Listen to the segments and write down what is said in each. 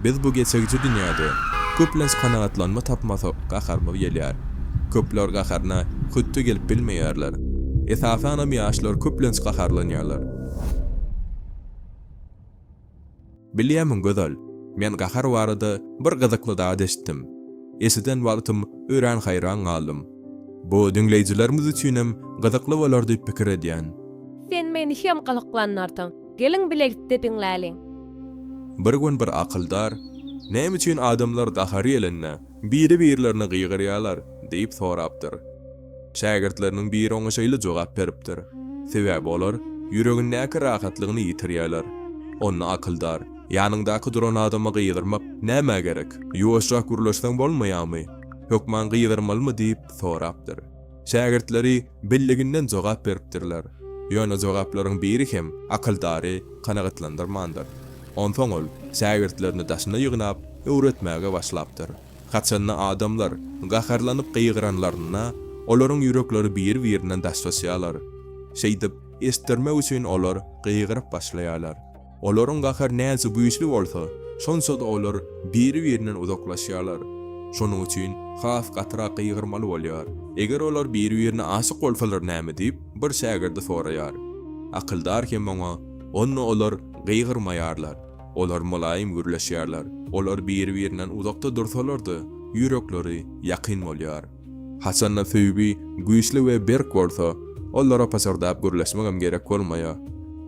Biz bu geçegiji dünýäde köplenç kanagatlanma tapmasak gaharymyz gelýär. Köpler gaharyna hötde gelip bilmeýärler. Esasanam ýaşlar köplenç gaharlanýarlar. Bilýärmiň Gözel, men gahar barada bir gyzykly zat eşitdim. Eşiden wagtym örän haýran galdym. Bu diňleýjilerimiz üçinem gyzykly bolar diýip pikir edýän. Sen meni hem gyzyklandyrdyň. Geliň bilelikde diňläliň. Bir gün bir akyldar, Näme üçin adamlar gahary gelende, biri-birlerine gygyrýarlar? diýip sorapdyr. Şägirtleriniň biri oňa şeýle jogap beripdir, Sebäbi olar ýüregindäki rahatlygyny ýitirýärler. Onda akyldar, Ýanyňdaky duran adama gygyrmak nämä gerek? Ýuwaşrak gürleşseň bolmaýarmy? Hökman gygyrmalymy? diýip sorapdyr. Şägirtleri bildiginden jogap beripdirler. Ýöne jogaplaryň biri hem akyldary kanagatlandyrmandyr. Onsoň ol şägirtlerini daşyna ýygnap, öwretmäge başlapdyr. Haçanda adamlar gaharlanyp gygyranlarynda, olaryň ýürekleri bir-birinden daşlaşýarlar. Şeýdip, eşitdirmek üçin olar gygyryp başlaýarlar. Olaryň gahary näçe güýçli bolsa, şonça-da olar biri-birinden uzaklaşýarlar. Şonuň üçin has gatyrak gygyrmaly bolýar. Eger olar biri-birine aşyk bolsalar näme diýip, bir şägirdi soraýar. Akyldar hem oňa, Onda olar gygyrmaýarlar. Olar mylaýym gürleşýärler. Olar biri-birinden uzakda dursalar-da, ýürekleri ýakyn bolýar. Haçanda söýgi güýçli we berk bolsa, olara pyşyrdap gürleşmegem gerek bolmaýar.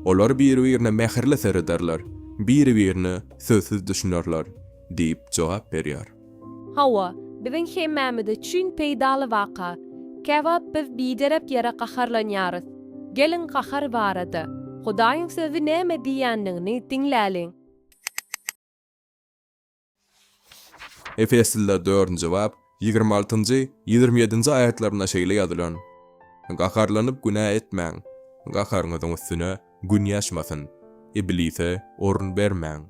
Olar biri-birine mähirli serederler, biri-birine sözsüz düşünerler, diýip jogap berýär. Hawa, biziň hemmämiz üçin peýdaly waka. Käwagt biz biderek ýere gaharlanýarys. Geliň gahar barada, Hudaýyň Sözi näme diýýändigini diňläliň. Efesliler dördünji bap, ýigrimi altynjy, ýigrimi ýedinji aýatlarynda şeýle ýazylan, Gaharlanyp günä etmäň, gaharyňyzyň üstüne Gün ýaşmasyn, iblise orun bermäň.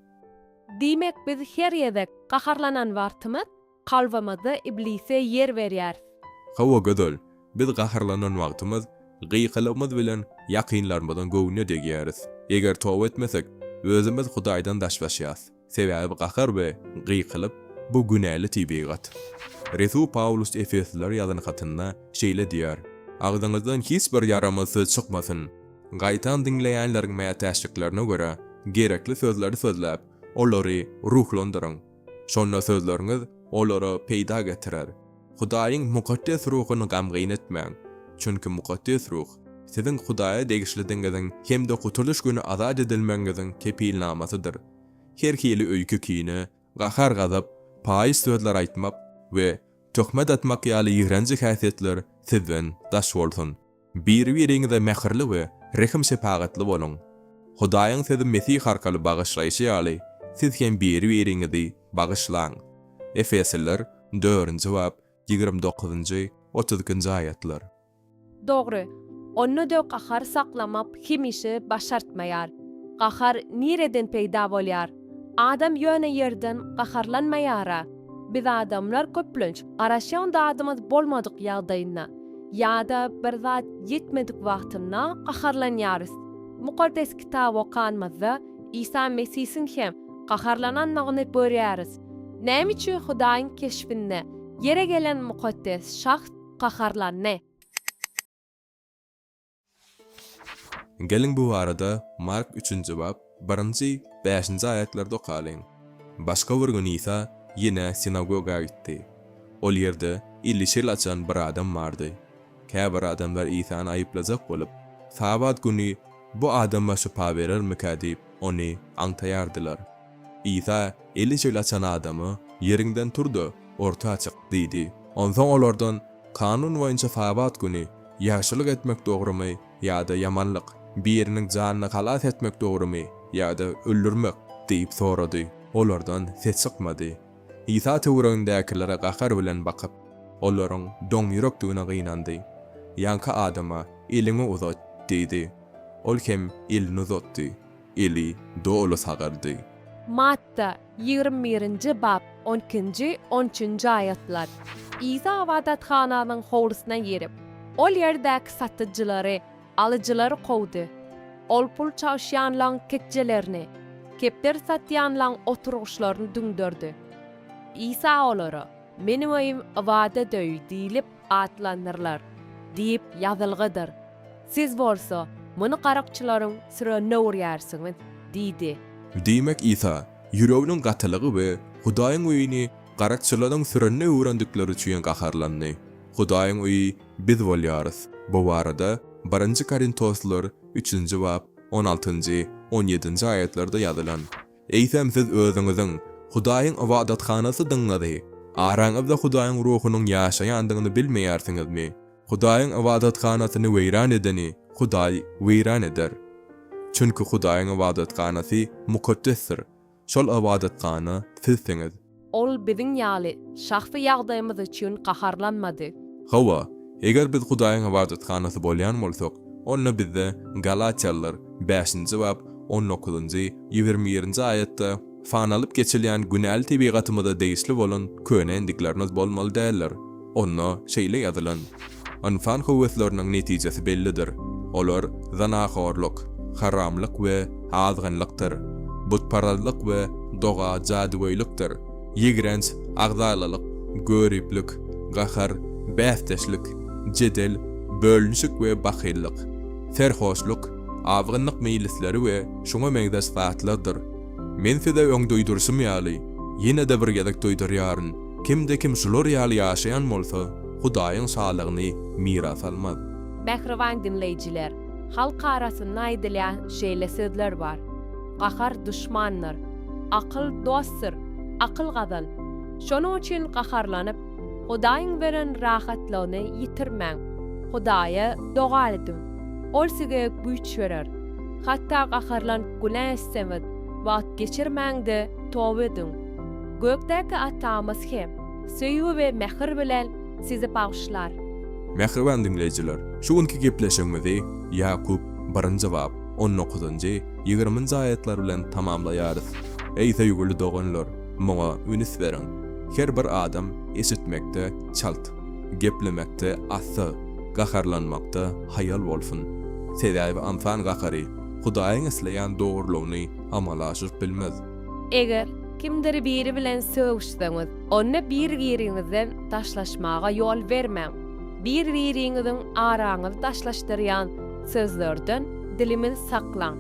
Diýmek, biz her gezek gaharlanan wagtymyz kalbymyzda iblise ýer berýäris. Hawa, gözel. Biz gaharlanan wagtymyz gykylygymyz bilen ýakynlarymyzyň göwnüne degýäris. Eger toba etmesek, özümiz Hudaýdan daşlaşýas. Sebäbi gahar we gykylyk, bu günäli tebigat. Resul Pawlus efeslilere ýazan hatynda şeýle diýýär, Agzyňyzdan hiç bir ýaramaz söz çykmasyn. Gaýtam diňleýänleriň mätäçliklerine görä, gerekli sözleri sözläp, olary ruhlandyryň. Şonda sözleriňiz olara peýda getirer. Hudaýyň mukaddes ruhuny gamgyn etmäň, çünki mukaddes ruh, siziň Hudaýa degişlidigiňiziň hem-de gutulyş güni azat edilmegiňiziň kepilnamasydyr. Her hili öýke-kine, gahar-gazap, paýyş sözler aýtmak we töhmet atmak ýaly ýigrenji häsiýetler sizden daş bolsun. Bir-biriňize mähirli we rehim-şepagatly boluň. Hudaýyň Sözi Mesih arkaly bagyşlaýşy ýaly, siz hem bir-biriňizi bagyşlaň. Efesliler, dördünji bap, ýigrimi dokuzynjy, otuz ikinji aýatlar. Dogry, onda-da gahar saklamak hemişe başartmaýar. Gahar nireden peýda bolýar? Adam ýöne ýerden gaharlanmaýar-a. Biz adamlar köplenç garaşýan zadymyz bolmadyk ýagdaýynda ýa-da bir zat ýetmedik wagtynda gaharlanýarys. Mukaddes Kitaby okanymyzda Isa Mesisiň hem gaharlananyny görýäris. Näme üçin Hudaýyň keşbinde ýere gelen mukaddes Şahs gaharlandy? Geliň bu barada Mark üçünji bap, birinji, bäşinji aýatlary-da okalyň. Başga bir gün Isa ýene sinagoga gitdi. Ol ýerde eli şel açan bir adam bardy. Käbir adamlar Isany aýyplajak bolup, Sabat güni bu adama şypa berermikä diýip, ony aňtaýardylar. Isa eli şeýle açan adama, Ýeriňden tur-da, orta çyk! diýdi. Onsoň olardan, Kanun boýunça Sabat güni ýagşylyk etmek dogrumy ýa-da ýamanlyk, biriniň janyny halas etmek dogrumy ýa-da öldürmek? diýip sorady. Olardan ses çykmady. Isa töweregindäkilere gahar bilen bakyp, olaryň doňýürekdigine gynandy. Ýaňky adama, Eliňi uzat! diýdi. Ol hem elini uzatdy. eli doly sagaldy. Matta, ýigrimi birinji bap, on ikinji, on üçünji aýatlar. Isa ybadathananyň howlusyna girip, ol ýerdäki satyjylary, alyjylary kowdy. Ol pul çalyşýanlaň tekjelerini, kepderi satýanlaň oturgyçlaryny düňderdi. Isa olara, Meniň öýüm ybadat öýi diýlip, atlandyrylar diýip ýazylgydyr. Siz bolsa muny garykçylaryň sürenine urýarsyňyz diýdi. Diýmek Isa, ýüreginiň gatylygy we Hudaýyň öýüni garykçylaryň sürenine öwrendikleri üçin gaharlandy. Hudaýyň öýi biz bolýarys. Bu barada Birinji Korintoslylar üçünji bap on altynjy, on ýedinji aýatlarda ýazylan. Eýsem siz özüňiziň Hudaýyň ybadathanasydygňyzy, araňyzda Hudaýyň Ruhunyň ýaşaýandygyny bilmeýärsiňizmi? Hudaýyň ybadathanasyny weýran edeni Hudaý weýran eder. Çünki Hudaýyň ybadathanasy mukaddesdir, şol ybadathana sizsiňiz. Ol biziň ýaly şahsy ýagdaýymyz üçin gaharlanmady. Hawa, eger biz Hudaýyň ybadathanasy bolýan bolsak, onda bizde Galatýalylar bäşinji bap on dokuzynjy, ýigrimi birinji aýatda panalyp geçilýän günäli tebigatymyza degişli bolan köne endiklerimiz bolmaly däldir. Onda şeýle ýazylan, Ynsan höwesleriniň netijesi bellidir, olar zynahorlyk, haramlyk we azgynlykdyr, butparazlyk we doga-jadygöýlikdir, ýigrenç, agzalalyk, göriplik, gahar, bäsdeşlik, jedel, bölünişik we bahyllyk, serhoşlyk, azgynlyk meýlisleri we şuňa meňzeş zatlardyr. Men size öň duýduryşym ýaly, ýene-de bir gezek duýdurýaryn, Kimde-kim şular ýaly ýaşaýan bolsa, Hudaýyň şalygyny miras almaz. Mähriban diňleýjiler, halk arasynda aýdylýan şeýle sözler bar, Gahar duşmandyr, akyl dostdur, akyl gazan. Şonuň üçin gaharlanyp, Hudaýyň beren rahatlygyny ýitirmäň. Hudaýa doga ediň, Ol size güýç berer. Hatda gaharlanyp günä etseňiz, wagt geçirmäň-de, toba ediň. Gökdäki Atamyz hem söýgi we mähir bilen sizi bagyşlar. Mähriban diňleýjiler, şu günki gepleşigimizi Ýakup, birinji bap, on dokuzynjy, ýigriminji aýatlar bilen tamamlaýarys. Eý söýgüli doganlar, muňa ünüs beriň. Her bir adam eşitmekde çalt, geplemekde assy, gaharlanmakda haýal bolsun. Sebäbi ynsan gahary Hudaýyň isleýän dogrulygyny amala aşyryp bilmez. Eger kimdir biri bilen sögüşseňiz, onda bir-biriňizden daşlaşmaga ýol bermäň. Bir-biriňiziň araňyzy daşlaşdyrýan sözlerden dilimizi saklaň.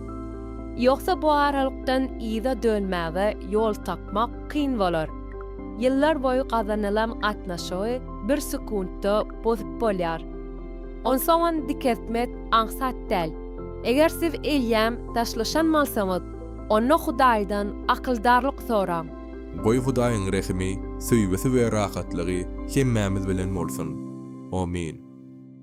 Ýogsa bu aralykdan yza dönmäge ýol tapmak kyn bolar. Ýyllar boýy gazanylan gatnaşygy bir sekuntda bozup bolýar. Onsoňam dikeltmek aňsat däl. Eger siz eýýäm daşlaşan bolsaňyz, Onda Hudaýdan akyldarlyk soraň. Goý Hudaýyň rehimi, söýgüsi we rahatlygy hemmämiz bilen bolsun. Amin.